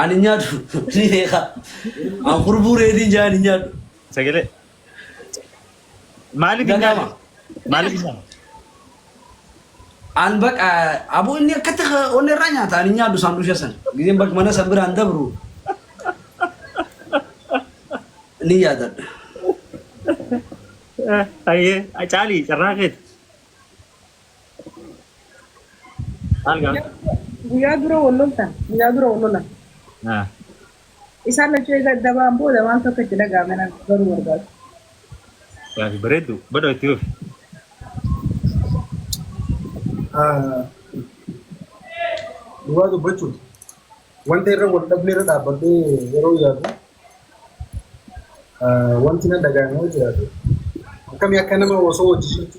Ani nyaadhu ni beeka. An kurbuu reediin jaa ni nyaadhu. Sagalee. Maaliif hin Gagama. nyaanne? Maaliif hin nyaanne? An baqa aboo inni akkatti onni irraa nyaata ani nyaadhu saandusha san. Gizeen bakka mana san biraan dabru. Ni yaadadha. Ayyee, caalii carraa keeti. Maal gaafata? Guyyaa- Guyyaa dura wal loltan. Guyyaa dura wal lolan. Ah, Isaan lachuu eega adda ba'an booda maal tokko itti dhaga'ame nan baruu barbaada. Gaafi bareeddu. Badhoo itti fufi. Ah, Dhugaa dubbachuuf wanta irra wal dhabne irra dhaabbadhee yeroo yaadu ah, wanti na dhaga'ame yoo jiraate akkamii akka nama osoo hojii jirtu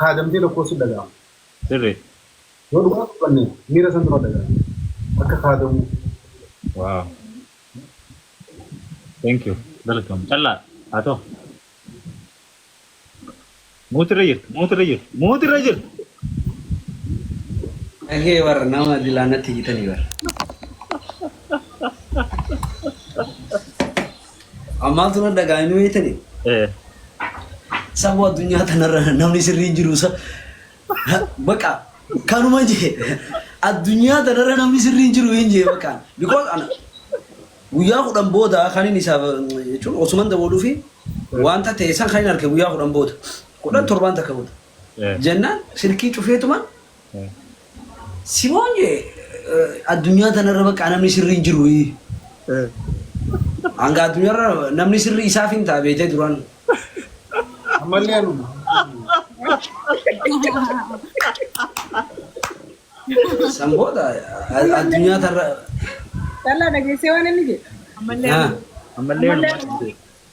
kaadamtee tokkoo sitti dhaga'ama. Sirri. Yoo dhugaa dubbanne miira santu natti dhaga'ama. Akka kaadamuu. Wow. Thank you. Galatoomi. Callaa haa ta'u. Mute irra jirta. Mute irra jirta. Mute irra jirta. Dhagee warra nama dilaa natti hiitanii warra. Amma maaltu na dhaga'ame ni beektanii? Eh, Saboo addunyaa tanarra namni sirrii hin jiru sa. Baqa kanuma jee addunyaa tanarra namni sirrii hin jiru hin jee baqa. Because ana guyyaa kudhan booda kan inni isaaf jechuun osuman dabaluu fi wanta ta'e san kan inni arge guyyaa kudhan booda. Kudhan torbaan takka booda. eh. Jennaan silkii cufeetumaan Simoon jee addunyaa tanarra baqqaa namni sirrii hin jiru. Hanga addunyaarra namni sirrii isaaf hin ta'a beetee duraan. Ammallee anuma. San booda addunyaa tanarra. Callaa dhageessee waan inni jedhe. Ammallee anuma. Ammallee anuma.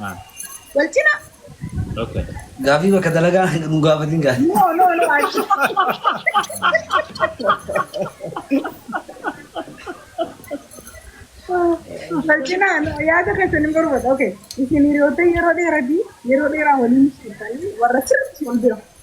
Ah, Wal cina. okay. Gaafii bakka dalagaa nu gaafatin gaafii. No, no, no. achi. Wal cina. no, Yaada keessan hin barbaadu. Okay. Isin hiriyoota yeroo dheeraa fi yeroo dheeraa waliin turtanii warra sirriitti wal bira.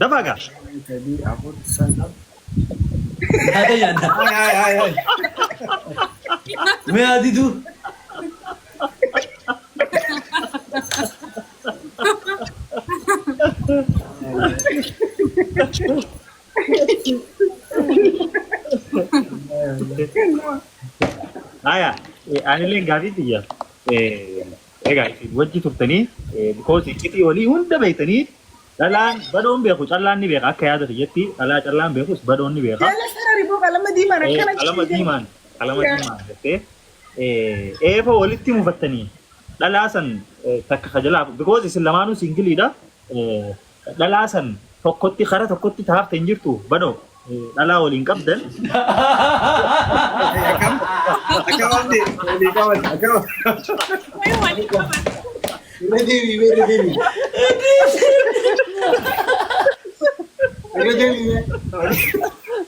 Dafaa gaa. Shan, sadii, afur, sana. Yaada yaada. Ay, ay, ay, ay. Mee adidu. Haya, eh, anileen gaafii tiyya. Eh, Egaa isin wajji turtanii eh, because iccitii olii hunda beektanii Dhalaan badoon beeku callaan ni beeka akka yaada kiyyatti dhalaa callaan beekus badoon ni beeka. Jala sarari moo qalama diimaan Ee, akkana qalama ciisee. diimaan qalama Yaa. diimaan jettee ee, eefa walitti mufattanii dhalaa san ee, takka ka jalaa because isin lamaanuu singiliidha ee, dhalaa san tokkotti kara tokkotti taafte hin jirtu badoo dhalaa waliin qabdan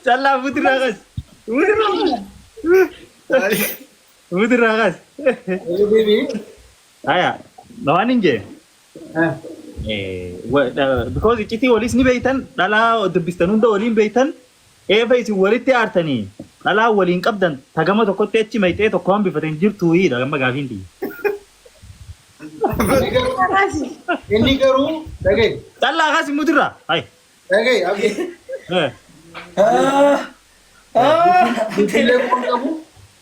callaa fuutirraa kas fuutirraa kas fuutirraa kas haya waan hin jee Because iccitii waliis ni beektan dhalaa dubbistan hunda waliin beektan eefa isin walitti aartanii dhalaa waliin qabdan tagama tokkotti achi mayxee tokko hambifatan jirtu hiidha gamma gaafiin tiyya. Inni garuu inni garuu dhagee Callaa kaas immoo dirraa. Hai. dhagee abdii Eh. bilbilee waan qabu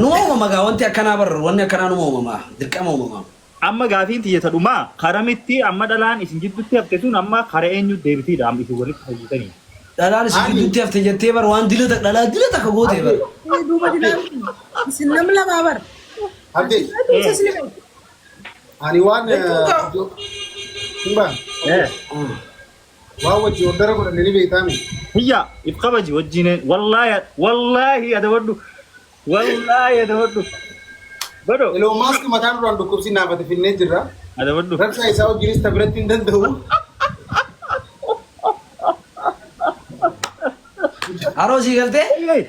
Numa uumama gaa wanti akkanaa bar wanni akkanaa numa uumama dirqama uumama. Amma gaafiin tiyya ta dhumaa karamitti amma dhalaan isin jiddutti hafte sun amma kara eenyu deebitiidha amma isin walitti fayyitanii. Dhalaan isin Ani- jidduutti hafte jettee bar waan dila tak- dhalaa dila takka goote bar. Ee, duuba dilaan kun isin nam lamaa bar. Abdii, Ati isa isin beektu. ani waan... Jechuun gaa- Suuraan. Eh. Waa wajji ordara godhanne ni beektaa miti. Hiyyaa if kabaji wajjiineen wallaahi wallaahi adabadhu wallaahi adabadhu godho Elon Musk mataa duraan dhukkubsi naafate finnee jirra. adabadhu Raksaa isaa wajjinis ta biratti hin danda'u. Haroo sii galtee? Eeyyee.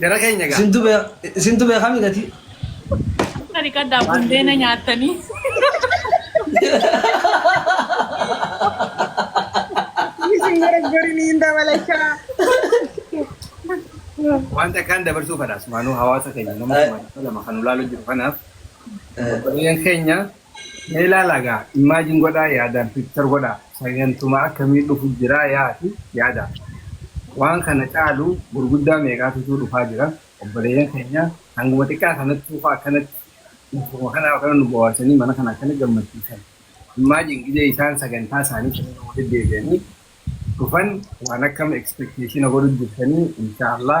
Jara keenya gaa. Isintu beeka isintu beeka midhati. Ani kaddaa bundeena nyaatanii. Isin gara garin hin dabalachaa. Wanta akkaan dabarsuu fadhaas maanuu hawaasa keenya nama kuma dhibba lama kan ulaalu jiru kanaaf obboleeyyan keenya Mee ilaalaa gaa imagine godhaa yaadaan picture godhaa sagantumaa akkamii dhufu jiraa yaati yaadaa waan kana caalu gurguddaa meeqaatutuu dhufaa jira obboleeyyan keenya hanguma xiqqaa kanattuu faa akkanatti bakkuma kanaa akkana nu bowaarsanii mana kana akkana gammachiisan imagine gizee isaan sagantaa isaanii sanirra walitti deebi'anii dhufan waan akkam expectationa godhu jirtanii inshaa Allah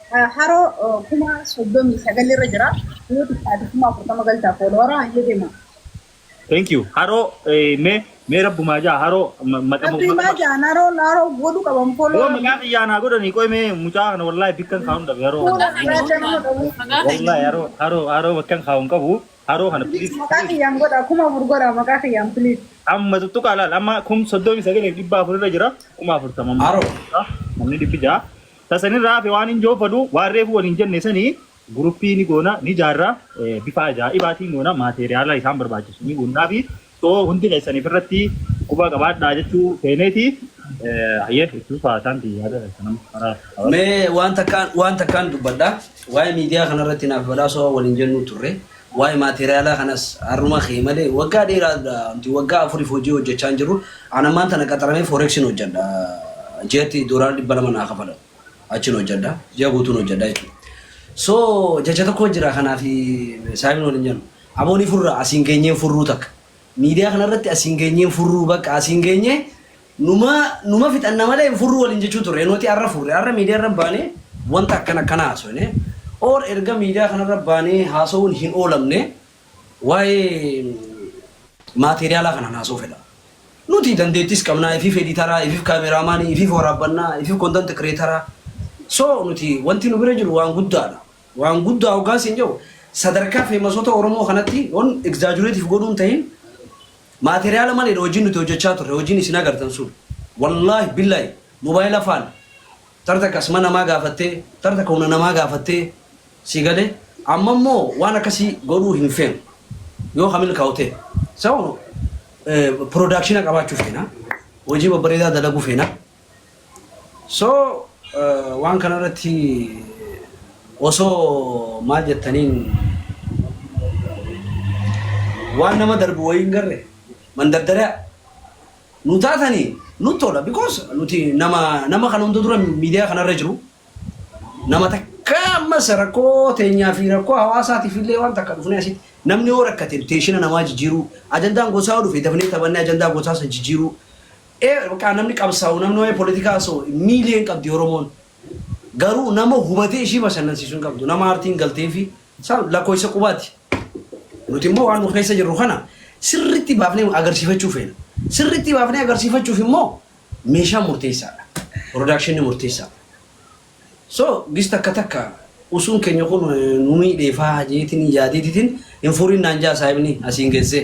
Haroo kuma soddomii sagal irra jira. Yoo xiqqaate kuma afurtama galtaa foolowara hayyee deema. Thank you. Haroo eh, mee mee rabbumaa jaa haroo ma- maqama Rabbii maqama. maajaan haroo haroo godhu qaban Yoo foolowara. maqaa kiyyaa naa godhanii qoy mee mucaa kana wallaahi bikkan kaa'uun dhabe haroo kana. Fuula Maqaa keenya irraa nama godhaan. Maqaa keenya Wallaahi haroo haroo haroo bakkan kaa'uun qabu haroo kana Please please maqaa please. kiyyaan godha kuma afur godha maqaa kiyyaan please. Amma tuttuqaa laal amma kum soddomii sagaleef dhibba afur irra jira kuma afurtama amma. Haroo. Namni dhibbi ja'a. Ta san irraa hafe waan injoo fadhu waan reefu waliin jenne sani guruppii ni goona ni jaarra bifaa ajaa'ibaatiin goona maateeriyaala isaan barbaachisu ni guunnaafi so hundi keessan ifirratti quba qabaadhaa jechuu feeneeti hayyee itti fufaa isaan ti yaada keessan amma karaa hawaasa Mee waan takkaan waan takkaan dubbadha. Waa'ee miidiyaa kanarratti naaf badhaasoo waliin jennuu turre. Waa'ee maateeriyaalaa kanas har'uma ka'e malee waggaa dheeraa dha. Nuti waggaa afuriif hojii hojjechaa hin jirru. An ammaan tana qaxaramee Forexiin hojjedha. Ji'atti doolaara 200 naa kafalamu. Achiin hojjedha. Ji'a guutuun hojjedha jechuudha. So jecha tokko jira kanaaf Saayimiin waliin jennu. Aboo ni furra asiin geenyee hin furruu takka. Miidiyaa kanarratti asiin geenyee hin furruu bakka asiin geenyee Numa numa fixanna malee hin furru waliin jechuu turre. Nuti arra furre. Arra miidiyaa irra baanee wanta akkana akkana haasofne. Or erga miidiyaa kana irra baanee haasawuun hin oolamne waa'ee maateeriyaalaa kanaan haasawuu fedha. Nuti dandeettiis qabna, ifiif ediitaraa, ifiif kaameraamaanii, ifiif waraabbannaa, ifiif content creator. So nuti wanti nu bira jiru waan guddaadha. Waan guddaa hoggaan siin jedhu sadarkaa feemasoota Oromoo kanatti on exaggerate if godhuu hin tahin Material maledha hojiin nuti hojjachaa turre hojiin isin agartan sun wallahi billahi mobile faan tar takka asma namaa gaafattee tar takka humna namaa gaafattee sii galee amma immoo waan akkasii godhuu hin feenu yoo ka milkaa'u ta'e so production qabaachuu feena hojii babbareedaa dalaguu feena So waan kana irratti osoo maal jettaniin waan nama darbu wayii hin garre mandardara nu taatani nut tola because nuti nama nama kana hunda dura miidiyaa kana irra jiru nama takka ammas rakkoo teenyaa fi rakkoo hawaasaatiif illee waan takka dhufnee asitti namni yoo rakkate teeshina namaa jijjiiruu ajandaan gosaa yoo dhufe dafnee taphannee ajandaa gosaa san jijjiiruu ee baqaa namni qabsaawu namni wa'ee politikaa hasa'u hin miilee hin qabdi oromoon garuu nama hubatee ishii bashannansiisu hin qabdu nama aartiin galteefi isaan lakkooysa qubaati nuti immoo waan nu keessa jirru kana sirritti baafnee agarsiifachuu feena sirritti baafnee agarsiifachuuf immoo meeshaa murteessaadha production murteessaadha so gis takka takka usuun keenya kun nu miidheefaa jeetiin yaadeetitiin hin furiin naan jaa saayibni asiin geessee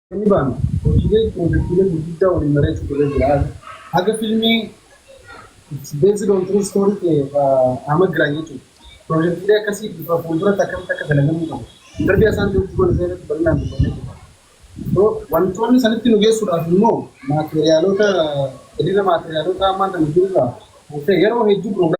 Inni baanu hojiilee piroojektiilee gurguddaa waliin mari'achuutu irra jira. Haga filmii based on true story ta'e Ahmad Giraany jechuudha. Piroojektiilee akkasii bifa fuulduratti akkamitti akka dalagamuu qabu. Darbii isaan hojii goone isaa irratti bal'inaan dubbannee jirra. So wantoonni sanitti nu geessuudhaaf immoo maateeriyaalota hiriira maateeriyaalota ammaan kana jirurraa kan ka'e yeroo hedduu piroogiraamii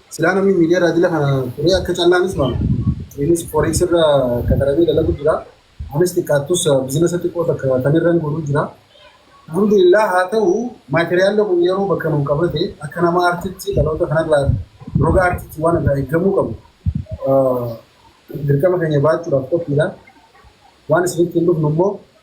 Silaa namni miidiyaa irraa dila kana turee akka callaanis mala. Innis forex irra qaxaramee dalagu jira. Anis xiqqaattus bizinasa xiqqoo takka kan irran godhu jira. Alhamdulillah haa ta'u maateriyaalli kun yeroo bakka nu qabate akka nama artitti dhaloota kanarraa roga artitti waan irraa eeggamuu qabu dirqama keenya ba'achuudhaaf qophiidha. Waan isinitti hin dhufnu immoo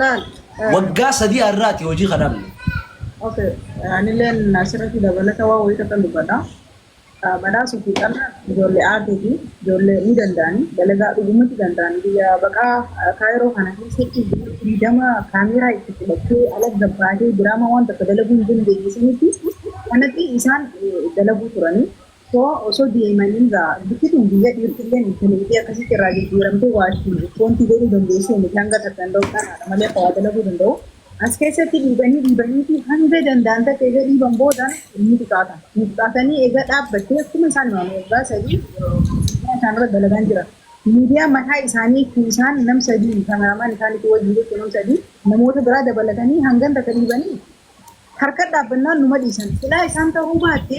Laal. eh, Waggaa sadii har'aati hojii kan dhabne. Okay. eh, Anilleen asirratti dabalata waan wayii takka dubbadha. Eh, Badhaasuu fi xannaan ijoollee aartii fi ijoollee ni danda'ani. Dalagaa dhugumatti danda'ani. Biyya baqaa eh, kaayiroo kana keessatti biyya firiidama kaameeraa itti fudhattee ala gabbaatee diraamaa waan takka dalaguu hin dandeenye sanitti kanatti isaan eh, dalaguu turani. Hoo osoo DMn irraa bikki tun biyya dhiirtillee intaliitii akkasitti irraa jijjiiramtee waashii wanti godhuu dandeessuu miti hanga takkan ta'u dhanaadha malee hawaa dalaguu danda'u. As keessatti dhiibanii dhiibaniiti hanga danda'an takka egaa dhiiban booda ni xiqaatan. Ni xiqaatanii egaa dhaabbattee akkuma isaan himame waggaa sadii miidiyaa isaanirra dalagaan jira. Miidiyaa mataa isaaniitti isaan nam sadii kameraamaan isaanitti wajjin jechuun nam sadii namoota biraa dabalatanii hangan takka dhiibanii Harka dhaabbannaan numa dhiisan. Silaa isaan ta'uu baatte,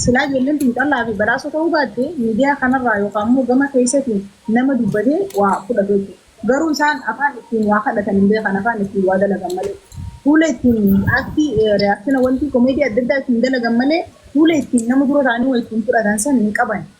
silaa ijoolleen xiinxallaa fi badhaasoo ta'uu baatte miidiyaa kanarraa yookaan immoo gama keessatiin nama dubbatee waa fudhatu jechuudha. Garuu isaan afaan ittiin waa kadhatan hin beekan, afaan ittiin waa dalagan malee. Fuula ittiin aktii, reaction, wantii komeedii adda addaa ittiin dalagan malee fuula ittiin nama dura taa'anii waa ittiin fudhatan san hin qaban.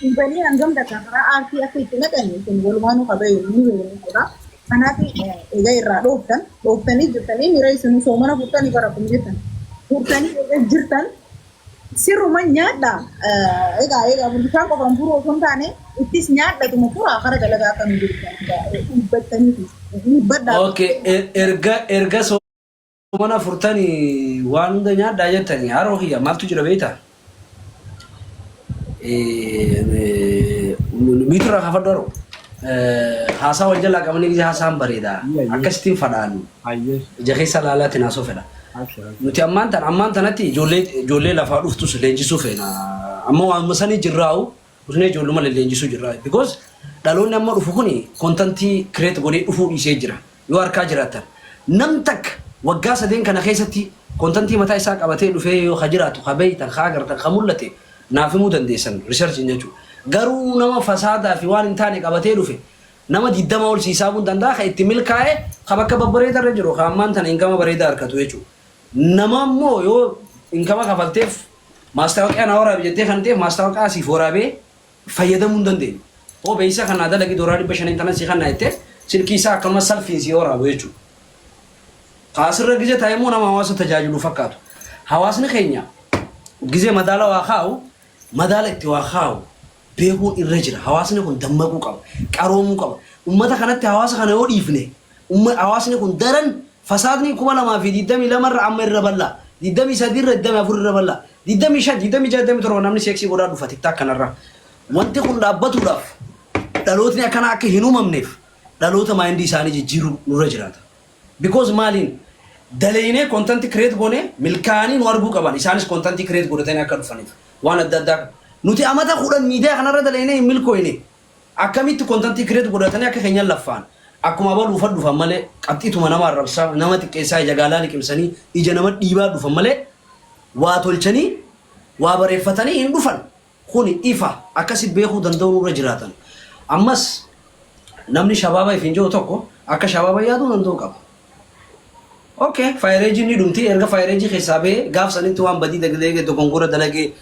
Dhiibanii hangam takka karaa aartii akka itti naqan isin walumaanuu ka beeynu ni beeyna jechuudha. Kanaaf egaa irraa dhooftan, dhooftanii jirtanii miira isin soomana furtanii bara kun jettan. Furtanii egaa jirtan sirruma nyaadha. Egaa egaa bishaan qofaan furuu osoo hin taane ittis nyaadhatuma furaa kara dalagaa akka nu deebisan egaa dhiibbattaniiti. Dhiibbadhaa. Okay, er- erga erga so Mana furtani waan hunda nyaadhaa jettani haroo kiyya maaltu jira beeyta miitura kaafadhu haroo haasaa wal jalaa qabanii gisee haasaan bareeda akkasitiin fadhaan ija keessa laalaa itti naasoo fedha nuti ammaan tan ammaan tanatti ijoollee ijoollee lafaa dhuftus leenjisuu feena amma waanuma sanii jirraa'u Busnee ijoolluma lelleenjisuu jirra because dhaloonni amma dhufu kuni content create godhee dhufuu dhiisee jira yoo harkaa jiraattan nam takka waggaa sadeen kana keessatti content mataa isaa qabatee dhufee yoo ka jiraatu ka beeytan ka agartan ka mul'ate naaf himuu dandeessan research hin jechuu garuu nama fasaadaa fi waan hin taane qabatee dhufe nama 20 ol si hisaabuun danda'a ka itti milkaa'e ka bakka babbareeda irra jiru ka ammaan tana inkama bareedaa harkatu jechuu nama immoo yoo inkama kafalteef Maastaawoqiyaa naa waraabi jettee kan ta'eef maastaawoqaa siif waraabee fayyadamuu hin dandeenyu. Hoo beeksiisa kan naa dalagi doolaara 500n tanan sii kanna jettee silkii isaa akkanuma salphiin sii waraabu jechuudha. Ka asirra gize taa'e immoo nama hawaasa tajaajilu fakkaatu. Hawaasni keenya gize madaala waa kaa'u madaala itti waa kaa'u beekuun irra jira. Hawaasni kun dammaquu qaba. Qaroomuu qaba. Ummata kanatti hawaasa kana yoo dhiifne Hawaasni kun daran fasaadni 2022 irra amma irra bal'aa, 23 irra 24 irra bal'aa, 25, 26, 27 namni seeksii godhaa dhufa tiktaak kanarra. Wanti kun dhaabbatuudhaaf dhalootni akkanaa akka hin uumamneef dhaloota maayindii isaanii jijjiiruu nurra jiraata. Because maaliin daleeynee content create goonee milkaa'anii nu arguu qaban isaanis content create godhatanii akka dhufaniif waan adda addaa nuti amata 10 miidiyaa kanarra daleeynee hin milkooyne. Akkamitti content create godhatani akka kenyan laffaan akkuma abalu ufa dhufan male qaxxituma nama arrabsa nama xiqqeessa ija gaalaa liqimsani ija nama dhiibaa dhufan male waa tolchani waa bareffatani hin dhufan kuni ifa akkasi beekuu danda'u nurra jiraatan ammas namni shabaaba ifin je'u tokko akka shabaaba yaaduu danda'u qaba ok fayreejiin ni dhumti erga fayreejii keessaa ba'e gaaf sanitti waan badii dagdeege dogongora dalage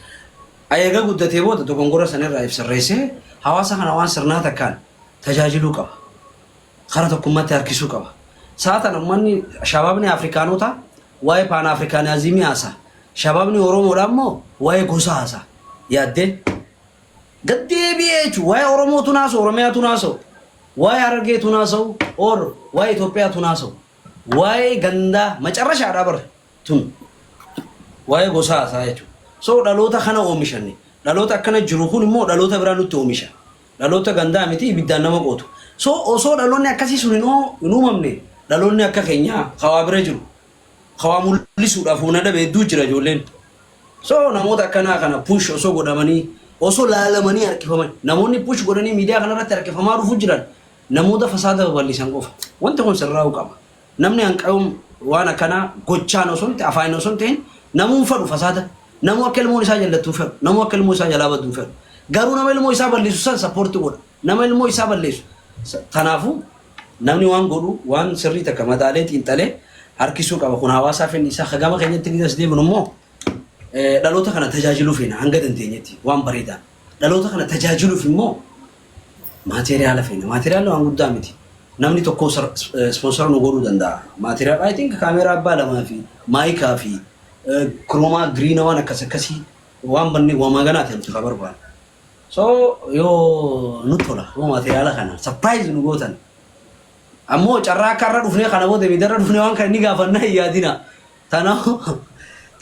a Eega guddatee booda dogongora sana irraa if sirreessee hawaasa kana waan sirnaa takkaan tajaajiluu qaba. Kara tokkummatti harkisuu qaba. Saa tana ummanni Shababni Afrikaanotaa waa'ee Paanaafrikaanaaziimii haasa'a. Shababni Oromoodhaa immoo waa'ee gosa haasa'a. Yaaddee gad deebi'ee jechuun waa'ee Oromootu naasa'u, Oromiyaatu naasa'u, waa'ee Harargeetu naasa'u, or waa'ee Itoophiyaatu naasa'u, waa'ee gandaa macarrashaadhaa bara. tun waa'ee gosaa haasa'a jechuudha. So dhaloota kana oomishanne. Dhaloota akkana jiru kun immoo dhaloota biraa nutti oomisha. Dhaloota gandaa miti ibiddaan nama qootu. So osoo dhaloonni akkasii sun hin uumamne dhaloonni akka keenyaa kawaa bira jiru. Kawaa mul'isuudhaaf humna dhabe hedduu jira ijoolleen. So namoota akkanaa kana push osoo godhamanii osoo laalamanii harkifaman namoonni push godhanii miidiyaa kanarratti harkifamaa dhufu jiran namoota fasaada babal'isan qofa. Wanti kun sirraa'uu qaba. Namni hanqayuun waan akkanaa gochaan osoo hin ta'in afaanin osoo hin ta'in namuu hin fedhu fasaada. Namuu akka ilmoon isaa jallattu hin fedhu. Namuu akka ilmoo isaa jalaa baddu hin fedhu. Garuu nama ilmoo isaa balleessu san sappoorti godha. Nama ilmoo isaa balleessu. sa- Tanaafuu namni waan godhu waan sirrii takka madaalee xiinxalee harkisuu qaba. Kun hawaasaa fedhii isaa ka gama keenyatti ni as deebinu immoo eh, dhaloota kana tajaajiluu feena hanga dandeenyetti waan bareedaan. Dhaloota kana tajaajiluuf immoo Maateeriyaala feena. Maateeriyaalli waan guddaa miti. Namni tokko ispoonsara nu godhuu danda'a. Maateeriyaal I think kaameeraa abbaa lamaa fi maayikaa fi kiroomaa giriina waan akkas akkasii waan banne wamaa ganaa ta'e nuti haa barbaadu. So yoo nu tola yoo maateeriyaala kana sapiraayiz nu gootan ammoo carraa akka har'a dhufnee kana booda miidhaa irra dhufnee waan kana ni gaafannaa hin yaadina. Tanaa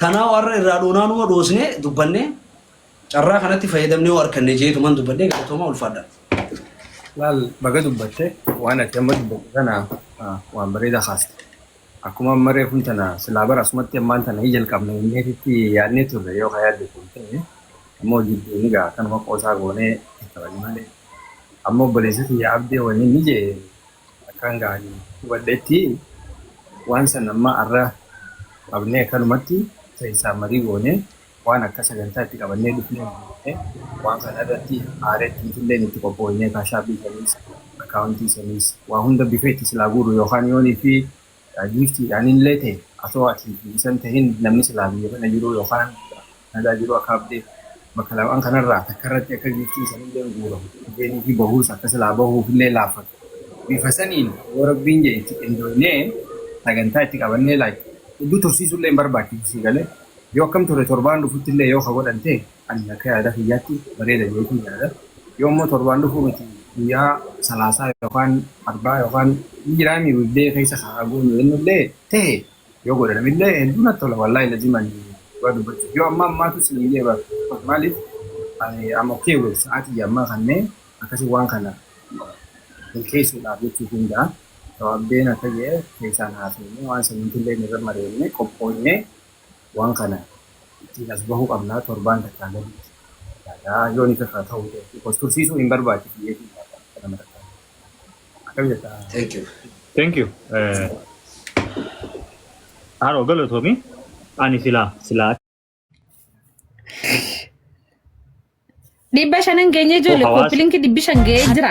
tanaa warra irraa dhoonaa numa dhoosnee dubbannee Carraa kanatti fayyadamnee hoo arkanne jeetuman dubbadhee galatoomaa ulfaadha. Laal baga dubbatte waan ati amma dubbatte kana waan bareeda kaaste. Akkuma amma reefun tana silaa bara asumatti ammaan tana hin jalqabne inneetitti yaadnee turre yoo ka yaadde kun ta'e ammoo jidduu ni ga'a kanuma qoosaa goonee taphani malee. Amma obboleessi kiyya abdee wanni inni jee akkaan gaani hubadhetti waan san amma arra qabnee akkanumatti keessaa marii goonee Waan akka sagantaa itti qabannee dhufne hin beekne. Waan kana irratti aareetti nutilleen itti qophooynee kaashaapii saniis, akkaawuntii saniis waa hunda bifa itti silaa guurru yookaan yoonii fi giiftiidhaanillee ta'e atoo ati bilisan tahin namni silaa biyya kana jiruu yookaan kanadaa jiruu akka abdeet bakka lamaan kanarraa takkarratti akka giiftiin sanilleen guuramu dhufeenii fi bahuus akka silaa bahuufillee laaffatu. Bifa saniin yoo rabbiin jedhe itti qindooynee sagantaa itti qabannee like hedduu tursiisuullee hin barbaachisu sii galee. Yoo akkam ture torbaan dhufuttillee yoo ka godhan ta'e ani akka yaada kiyyaatti bareeda jedheetiin yaada. Yoo immoo torbaan dhufuu miti guyyaa salaasaa yookaan arbaa yookaan hin jiraami weekday keessa ka haa goonu jennullee ta'e yoo godhanamillee hedduu natti tola wallaahi lazim ani dhugaa dubbachuuf yoo amma ammaatu siin jee bar because maaliif ani I'm okay with sa'aatii ammaa kannee akkasi waan kana milkeessuudhaaf jechuu danda'a. Sababdeen akka jee keessaan haasofnee waan saniitillee irra mari'annee qophoofnee Waan kana ittiin as bahuu qabna torbaan takkaa gaditti yaada yoo ni kakkaa ta'uu ta'e because tursiisuu hin barbaachisu jechuun yaada akka nama takkaa. Akkam jetta? Thank you. Thank you. Haroo galatoomi. Ani silaa silaa Dhibba shanan geenye ijoollee Hawaasa. kooppilinki dhibbi shan ga'ee jira.